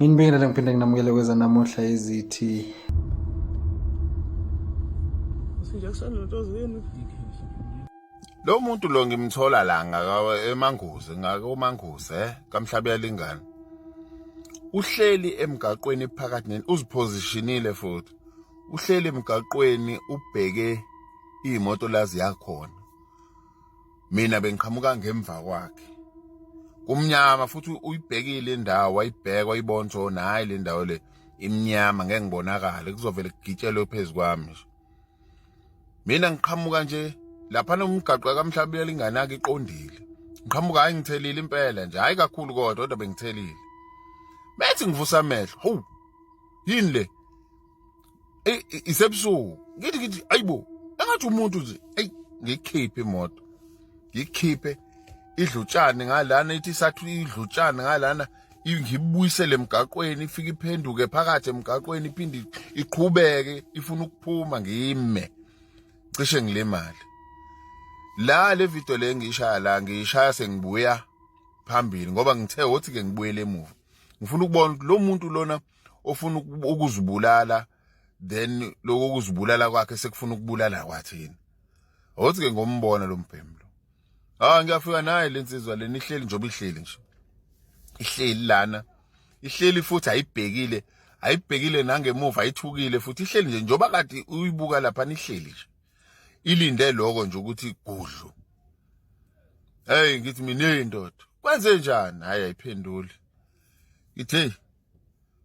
Nginibingelela ngiphinde nginamukele kweza namuhla izithi lo muntu lo ngimthola la emanguzi ngakomanguzi eh kamhlabi yalingana uhleli emgaqweni phakathi neni uzipositionile futhi uhleli emgaqweni ubheke imoto lazi yakhona mina bengiqhamuka ngemva kwakhe kumnyama futhi uyibhekile indawo wayibheka wayibona ukuthi oh, hayi le ndawo le imnyama ngeke ngibonakale kuzovele kugitshelwe phezu kwami nje mina ngiqhamuka nje lapha nomgaqo kamhlabela inganaki iqondile ngiqhamuka hayi ngithelile impela nje hayi kakhulu kodwa kodwa bengithelile bethi ngivusa amehlo hu yini le isebusuku ngithi ngithi ayibo engathi umuntu nje ayi ngikhiphe imoto ngikhiphe idlutshane ngalana ithi sathu idlutshane ngalana ngibuyisele emgaqweni ifike iphenduke phakathi emgaqweni iphinde iqhubeke ifuna ukuphuma ngime cishe ngilemali la le video le ngiyishaya la ngiyishaya sengibuya phambili ngoba ngithe wothi ke ngibuyele emuva ngifuna ukubona ukuthi lo muntu lona ofuna ukuzibulala then lokho kuzibulala kwakhe sekufuna ukubulala kwathina awuthi ke ngombona lo mbhemlo ah ngiyafika naye lensizwa leni ihleli njengoba ihleli nje ihleli lana ihleli futhi ayibhekile ayibhekile nangemuva ayithukile futhi ihleli nje njengoba kade uyibuka lapha nihleli nje ilinde lokho nje ukuthi gudlu hey ngithi mina indoda kwenze njani hayi ayiphenduli ithe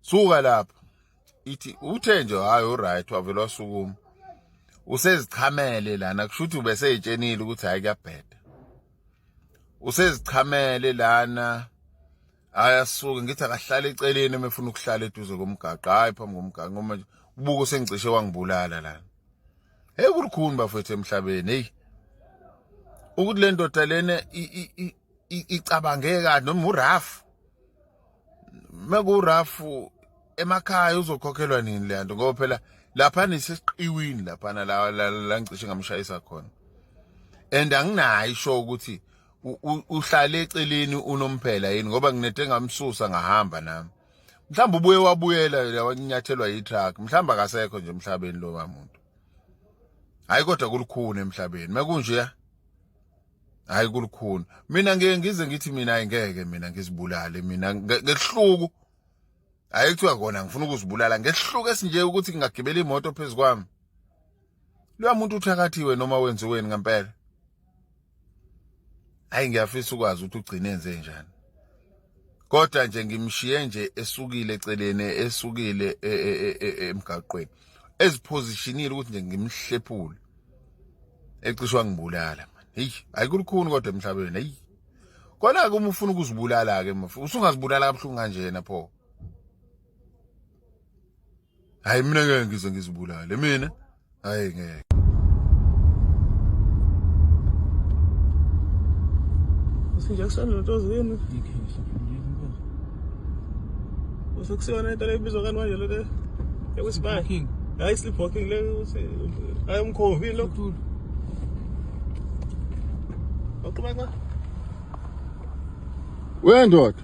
suka lapho ithi uthe nje hayi uright wavele wasukuma usezichamele lana kusho ukuthi ubeseyitshenile ukuthi hayi kuyabheda usezichamele lana ayasuke ngithi akahlale eceleni uma efuna ukuhlala eduze komgaqo hayi phambi komgaqo ngoba ubuke usengicishe wangibulala lana heyi kulukhuni bafethu emhlabeni heyi ukuthi le ndoda lena icabange kahle noma urafu mekurafu emakhaya uzokhokhelwa nini le nto ngoba phela laphana isesiqiwini laphana la la ngicishe ngamshayisa khona and anginayo isho ukuthi uhlale eceleni unomphela yini ngoba nginete ngamsusa ngahamba nami mhlawumbe ubuye wabuyela yawakunyathelwa yitruck mhlawumbe akasekho nje emhlabeni lo muntu hayi kodwa kulukhuni emhlabeni mekunje hayi kulukhuni mina ngeke ngize ngithi mina ayingeke mina ngizibulale mina ngehluku hayi kuthiwa kona ngifuna ukuzibulala ngehluku esinje ukuthi ngingagibela imoto phezu kwami loya muntu uthakathiwe noma wenziweni ngempela hayi ngiyafisa ukwazi ukuthi ugcine enze njani kodwa nje ngimshiye nje esukile eceleni esukile e, e, e, emgaqweni eziphozishinile ukuthi nje ngimhlephule ecishwa ngibulala manje hey ayikulukhuni kodwa emhlabeni hey kona ke uma ufuna ukuzibulala ke mfo usungazibulala kabuhlungu kanjena pho hayi mina ngeke ngize ngizibulale mina hayi ngeke usinjection lento zini usekusiyona into lebizwa kani manje lento ekusibaya hayi sleep walking le ukuthi hayi umkhovi lo Okhuluma kwa? Wendoda.